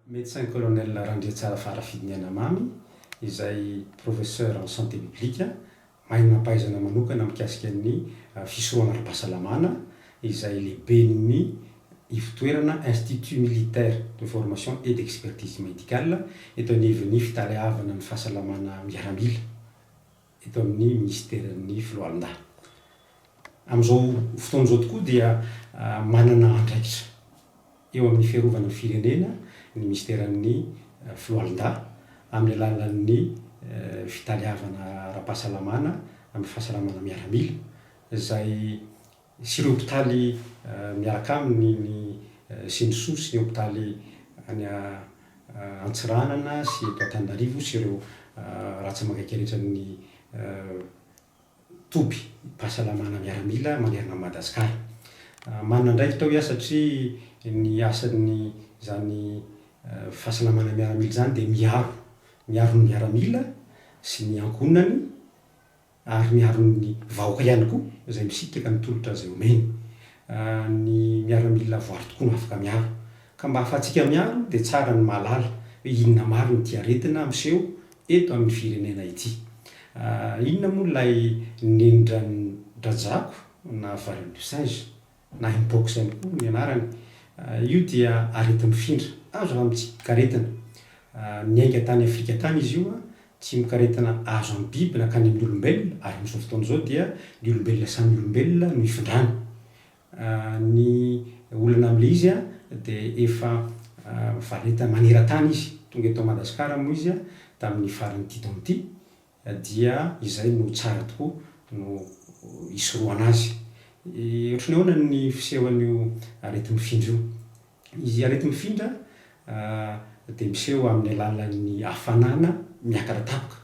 Médecin Colonel Randriatsara Farafidiny Anamamy, izay Professeur en Santé Publique, mahay manam-pahaizana manokana mikasika ny fisorohana ara-pahasalamana, izay lehiben'ny ivotoerana Institut Militaire de Formation et d'Expertise Médicale, eto anivon'ny Fitaleavana ny Fahasalamana Miaramila. eto amin'ny minisiteran'ny Filoalindahy. Amin'izao fotoana izao tokoa dia manana andraikitra eo amin'ny fiarovana ny firenena ny minisiteran'ny Filoalindahy amin'ny alalan'ny fitaleavana ara-pahasalamana amin'ny fahasalamana miaramila izay sy ireo hopitaly miaraka aminy ny Sindrisoa sy ny hopitaly any Antsiranana sy eto Antananarivo sy ireo ràtsa mangaika rehetra amin'ny toby pahasalamana miaramila manerana an'i Madagasikara. Manana andraikitra hoy aho satria ny asan'ny izany fahasalamana miaramila izany dia miaro miaro ny miaramila sy ny ankohonany, ary miaro ny vahoaka ihany koa izay misitraka ny tolotra izay omeny ny miaramila voary tokoa no afaka miaro ka mba ahafahantsika miaro dia tsara ny mahalala hoe inona marina ity aretina miseho eto amin'ny firenena ity inona moa ilay nendran-dRajako na valin-dRisinge? na inbox ihany koa ny anarany, io dia areti-mifindra, azo raha mitsipikaretina. Niainga tany Afrika tany izy io, tsimokaretina azo amin'ny biby nankany amin'ny olombelona, ary amin'izao fotoana izao dia ny olombelona samy olombelona no ifindrany. Ny olana amin'ilay izy dia efa mivareta maneran-tany izy, tonga eto Madagasikara moa izy tamin'ny faran'ity taona ity, dia izay no tsara tokoa no hisorohana azy. Ohatry ny ahoana ny fisehoan'io areti-mifindra io? Izy areti-mifindra dia miseho amin'ny alalan'ny hafanana miakatra tampoka,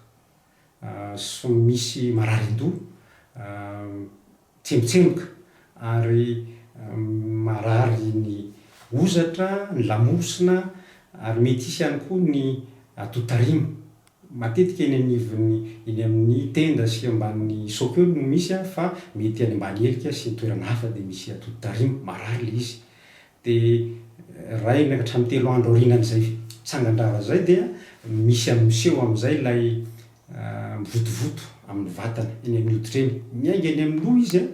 misy marary an-doha, Tsemotsemoka ary marary ny hozatra, ny lamosina ary mety hisy ihany koa ny atotarima. Matetika eny anivon'ny eny amin'ny tenda sy ambanin'ny soap eo no misy fa mety any ambany helika sy ny toerana hafa dia misy atotarima, marary ilay izy. Dia iray na hatramin'ny telo andro aorianan'izay tsangan-drava izay dia misy am, miseho amin'izay ilay mivotovoto amin'ny vatana, eny amin'ny hoditra eny. Miainga eny amin'ny loha izy an,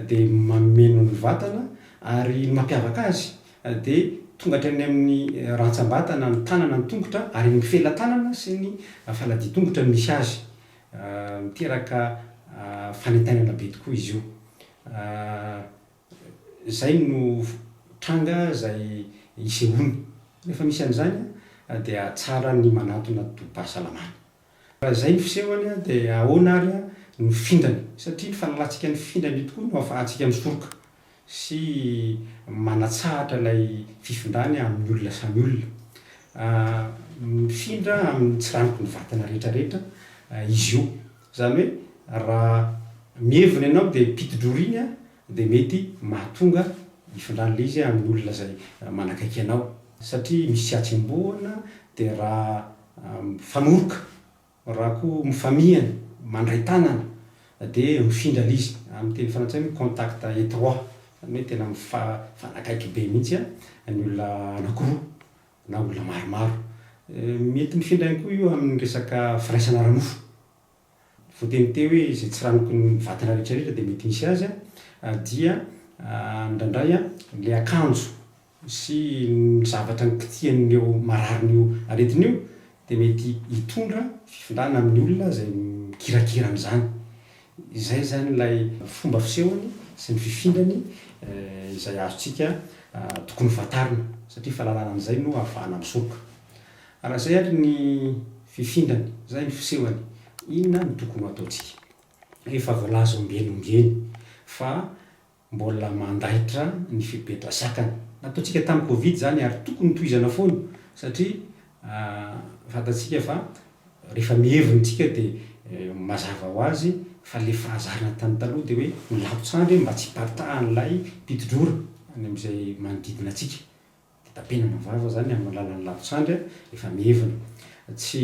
dia mameno ny vatana, ary ny mampiavaka azy dia tonga hatrany amin'ny rantsambatana, ny tanana, ny tongotra, ary eny amin'ny felatanana sy ny faladian-tongotra no misy azy. Miteraka fanentanana be tokoa izy io. Izay no tranga izay isehoany. Rehefa misy an'izany dia tsara ny manantona tobim-pahasalamana. Raha izay ny fisehony dia ahoana ary no findrany? Satria ny fahalalantsika ny findrany io tokoa no ahafahantsika misoroka sy manatsahatra ilay fifindrany amin'ny olona samy olona. Mifindra amin'ny tsiranoky ny vatana rehetrarehetra izy io. Izany hoe raha mihevona ianao dia mpitidrora iny dia mety mahatonga hifindran'ilay izy amin'ny olona izay manakaiky anao. Satria misy tsy atsembohana dia raha mifanoroka, raha koa mifamihana, mandray tanana dia mifindra ilay izy. Amin'ny teny frantsay hoe contact étroit, izany hoe tena mifanakaiky be mihitsy ny olona anankiroa. na olona maromaro. Mety mifindra ihany koa io amin'ny resaka firaisana ara-nofo. Voateny teo hoe izay tsiranoky ny vatana rehetrarehetra dia mety misy azy dia indraindray ilay akanjo sy ny zavatra nikitihan'io marariny io aretina io dia mety hitondra fifindrana amin'ny olona izay mikirakira an'izany. Izay izany ilay fomba fisehony sy ny fifindrany izay azontsika tokony hofantarina, satria fahalalana an'izay no ahafahana misoroka. Raha izay ary ny fifindrany, izay ny fisehony, inona no tokony ho ataontsika? Efa voalaza ombieny ombieny fa. Mbola mandaitra ny fepetra zakany. Nataontsika tamin'ny covid izany ary tokony tohizana foana satria fantantsika fa rehefa mihery ny tsika dia mazava ho azy fa ilay fahazarana tany taloha dia hoe milapo tsandry mba tsy hiparitahan'ilay mpitodrora any amin'izay manodidina antsika. Tapenana vava izany amin'ny alalan'ny lavintsandry efa mievina. Tsy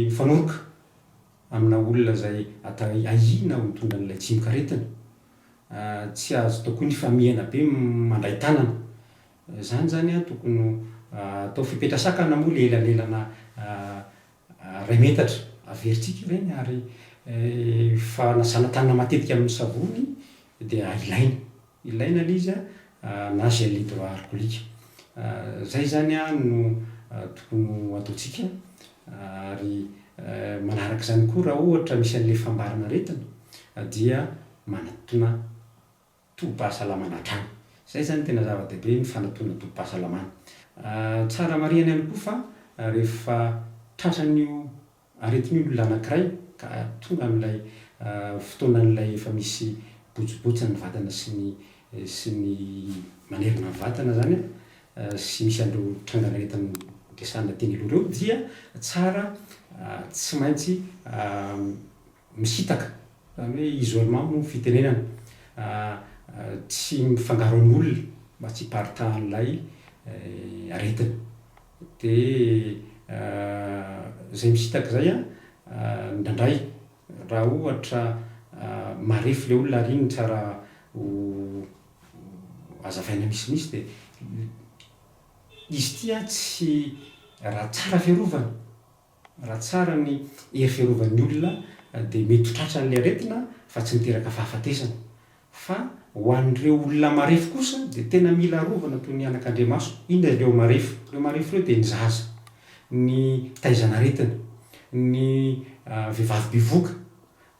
mifanoroka amina olona izay atao hoe ahiana ho nitondra an'ilay tsimokaretina. Tsy azo atao koa ny famihana be mandray tanana. Izany izany tokony ho atao fepetra sakana moa ilay elanelana Iray metatra, averintsika ireny ary fa na zana-tanana matetika amin'ny savony dia ilaina, ilaina ilay izy na gel hydroalcoolique. Izay izany no tokony ho ataontsika ary manaraka izany koa raha ohatra misy an'ilay fambaran'aretina dia manatona tobim-pahasalamana hatrany. Izay izany tena zava-dehibe ny fanatonana tobim-pahasalamana. Tsara marihana ihany koa fa rehefa tratran'io aretina io ny olona anankiray ka tonga amin'ilay fotoanan'ilay efa misy botsibotsin'ny vatana sy ny sy ny manerana ny vatana izany sy misy an'ireo trangan'aretina resahina teny aloha ireo dia tsara tsy maintsy misitaka, izany hoe isolement moa fitenenana tsy mifangaro amin'ny olona mba tsy hiparitahan'ilay aretina. Dia izay misitaka izay an, indraindray raha ohatra marefo ilay olona ary iny tsara ho hazavaina misimisy dia izy ity an tsy raha tsara fiarovana. Raha tsara ny hery fiarovan'ny olona dia mety ho tratran'ilay aretina fa tsy miteraka fahafatesana. Fa ho an'ireo olona marefo kosa dia tena mila arovana toy ny anakandriamaso. Inona ireo marefo? Ireo marefo ireo dia ny zaza, ny fitaizan'aretina, ny vehivavy bevoka,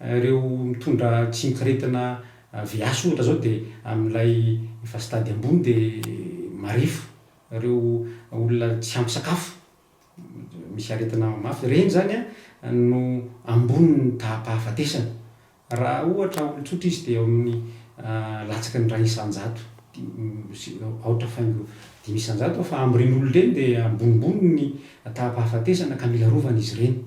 ireo mitondra tsimokaretina VIH ohatra izao dia amin'ilay efa stade ambony dia marefo, ireo olona tsy ampy sakafo. Misy aretina mafy. Ireny izany no ambonin'ny taham-pahafatesana. Raha ohatra olon-tsotra izy dia eo amin'ny latsaky ny iray isan-jato sy aotra faingo dimy isan-jato fa amin'ireny olona ireny dia ambonimbony ny taham-pahafatesana ka mila arovana izy ireny.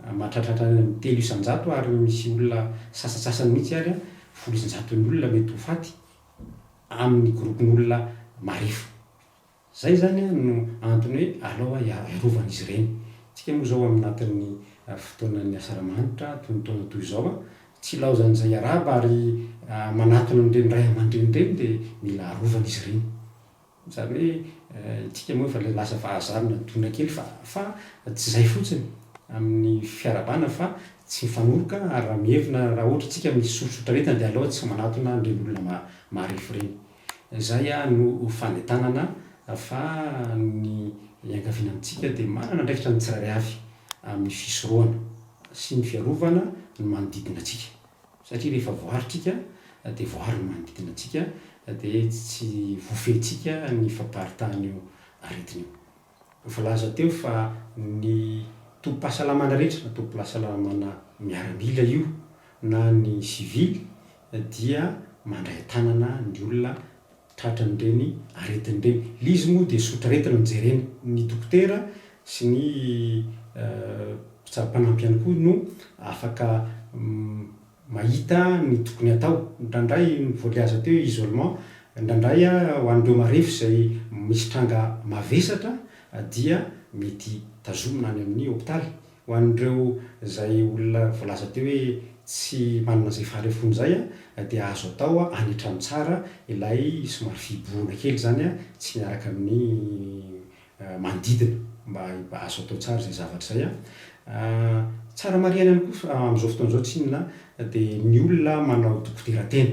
Mahatratratra any amin'ny telo isan-jato ary misy olona sasantsasany mihitsy ary folo isan-jaton'ny olona mety ho faty amin'ny gropin'olona marefo. Izay izany no antony hoe alao hiarovan'izy ireny. Isika moa izao aminatin'ny fotoanan'ny asaramanitra, toy ny taona toy izao, tsy ilaozan'izay hiarahaba ary manatona an'ireny ray aman-dreny ireny dia mila arovan'izy ireny. Izany hoe isika moa efa ilay lasa vahazaha nadona kely fa fa tsy izay fotsiny amin'ny fiarahabana fa tsy mifanoroka ary raha mihevina raha ohatra isika misorisotra aretina dia alao tsy manatona an'ireny olona marefo ireny. Izay no fanentanana fa ny iangaviana amintsika dia manana andraikitra ny tsirairay avy amin'ny fisorohana sy ny fiarovana ny manodidina antsika satria rehefa voaritrika dia voary ny manodidina antsika dia tsy voafehintsika ny fampaharitahan'io aretina io. Voalaza teo fa ny tobim-pahasalamana rehetra, na tobim-pahasalamana miaramila io na ny sivily dia mandray an-tanana ny olona tratran'ireny aretina ireny. Ilay izy moa dia sotraretina no jerena. Ny dokotera sy ny mpitsabo mpanampy ihany koa no afaka mahita ny tokony hatao, indraindray voagiaza teo i isolement, indraindray ho an'ireo marefo izay misy tranga mavesatra dia mety tazomina any amin'ny hopitaly, ho an'ireo izay olona voalaza teo hoe tsy manana izay faharefony izay dia azo atao any an-trano tsara ilay somary fihibohana kely izany tsy miaraka amin'ny manodidina mba azo atao tsara izay zavatra izay an! Tsara marihana ihany koa amin'izao fotoana izao tsinona dia ny olona manao dokoderan-tena.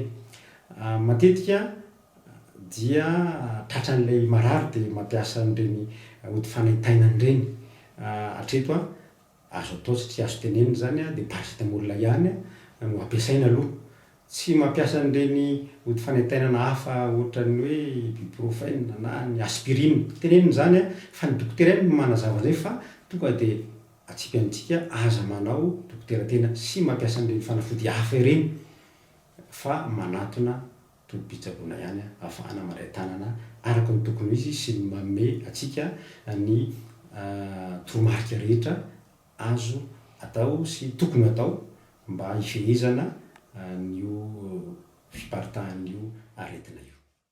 Matetika dia tratran'ilay marary dia mampiasa an'ireny ody fanaintainana ireny hatreto an! Azo atao sy tsy azo tenenina izany dia paracetamol ilay ihany no ampiasaina aloha. Tsy mampiasa an'ireny ody fanaintainana hafa ohatran'ny hoe ibuprofen na ny aspirine. Tenenina izany fa ny dokotera ihany no manazava an'izay fa tonga dia atsipy antsika aza manao dokotera tena sy mampiasa an'ireny fanafody hafa ireny fa manatona tobim-pitsaboana ihany ahafahana mandray tanana araka ny tokony ho izy sy ny manome antsika ny toromarika rehetra azo atao sy tokony hatao mba hifehezana an'io fiparitahan'io aretina io.